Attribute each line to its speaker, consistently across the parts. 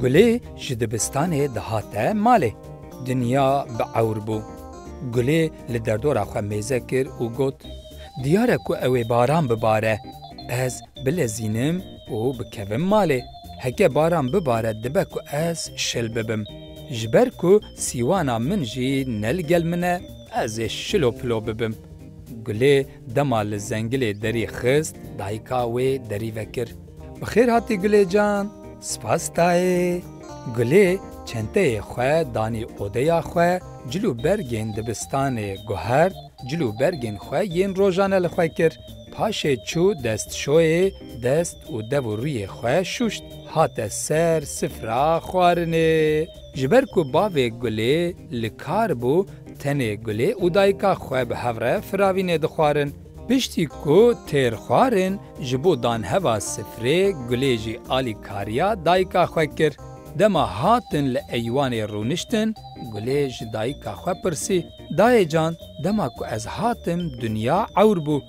Speaker 1: Gulê ji dibistanê dihate malê. Dinya bi ewr bû. Gulê li derdora xwe mêze kir û got, Diyar e ku ew ê baran bibare. Ez bilezînim û bikevim malê. Heke baran bibare dibe ku ez şil bibim. Ji ber ku sîwana min jî ne li gel min e, ez ê şilo pilo bibim. Gulê dema li zengilê derî xist, dayika wê derî vekir. Bi xêr hatî Gulê can, spas dayê. Gulê çenteyê xwe danî odeya xwe, cil û bergên dibistanê guhert, Cil û bergên xwe yên rojane li xwe kir. Paşê çû destşoyê, dest û dev û rûyê xwe şûşt. Hate ser sifra xwarinê. Ji ber ku bavê Gulê li kar bû, tenê Gulê û dayika xwe bi hev re firavînê dixwarin. Piştî ku têr xwarin, ji bo danheva sifrê Gulê jî alîkariya dayika xwe kir. Dema hatin li eywanê rûniştin, Gulê ji dayika xwe pirsî. Dayê can dema ku ez hatim dinya ewr bû.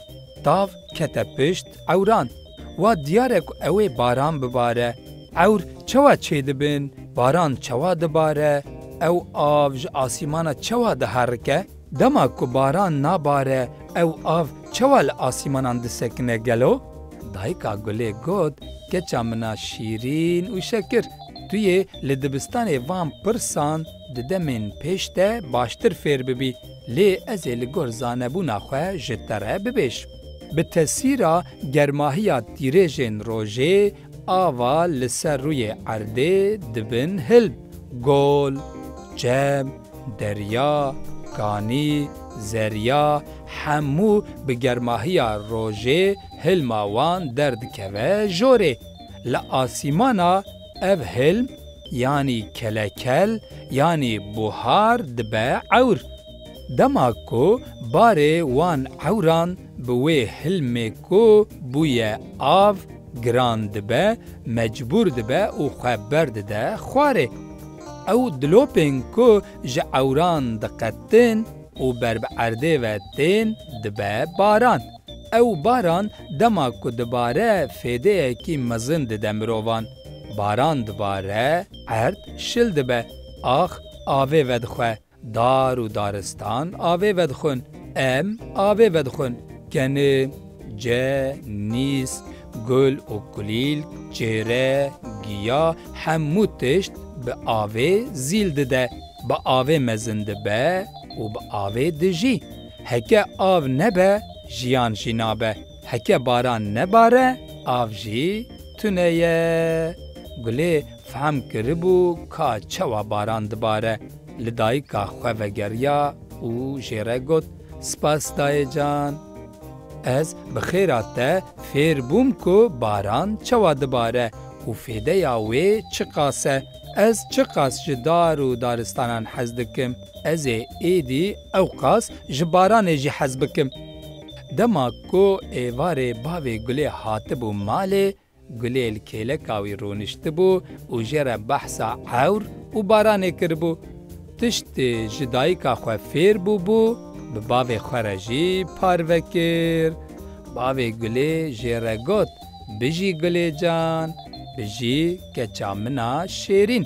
Speaker 1: Tav kete pişt ewran. Wa diyar e ku ew ê baran bibare. Ewr çawa çê dibin, baran çawa dibare, ew av ji asîmana çawa diherike? Dema ku baran nabare ew av çawa li asîmanan disekine gelo? Dayika gulê got, Keça min a şîrîn û şekir, tu yê li dibistanê van pirsan, Di demên pêş te baştir fêr bibî, lê ez ê li gor zanebûna xwe ji te re bibêjm. Bi tesîra germahiya tîrêjên rojê, ava li ser rûyê erdê dibin hilb, gol, çem, derya, kanî, zerya, hemû bi germahiya rojê hilma wan derdikeve jorê. Li asîmana. Ev hilm yanî kelekel yanî buhar dibe ewr. Dema ku barê wan ewran bi wê hilmê ku bûye av giran dibe, mecbûr dibe û xwe berdide xwarê. Ew dilopên ku ji ewran diqetin û ber bi erdê ve tên dibe baran. Ew baran dema ku dibare fêdeyekî mezin dide mirovan. Baran dibare, erd şil dibe, ax avê vedixwe, dar û daristan avê vedixwin, em avê vedixwin, keni, ce, nîs, gul û kulîlk, çêre, giya hemû tişt bi avê zîl dide, bi avê mezin dibe û bi avê dijî. Heke av nebe jiyan jî nabe. Heke baran nebare av jî tune ye. Gulê fehm kiribû ka çawa baran dibare. Li dayika xwe vegeriya û jê re got, Spas dayê can. Ez bi xêra te fêr bûm ku baran çawa dibare û fêdeya wê çiqas e. Ez çiqas ji dar û daristanan hez dikim. Ez ê êdî ewqas ji baranê jî hez bikim. Dema ku êvarê bavê Gulê hatibû malê, Gulê li kêleka wî rûniştibû û jê re behsa ewr û baranê kiribû. Tişt ji dayika xwe fêr bûbû, bi bavê xwe re jî parve kir. Bavê Gulê jê re got, Bijî Gulê can, bijî keça min a şêrîn.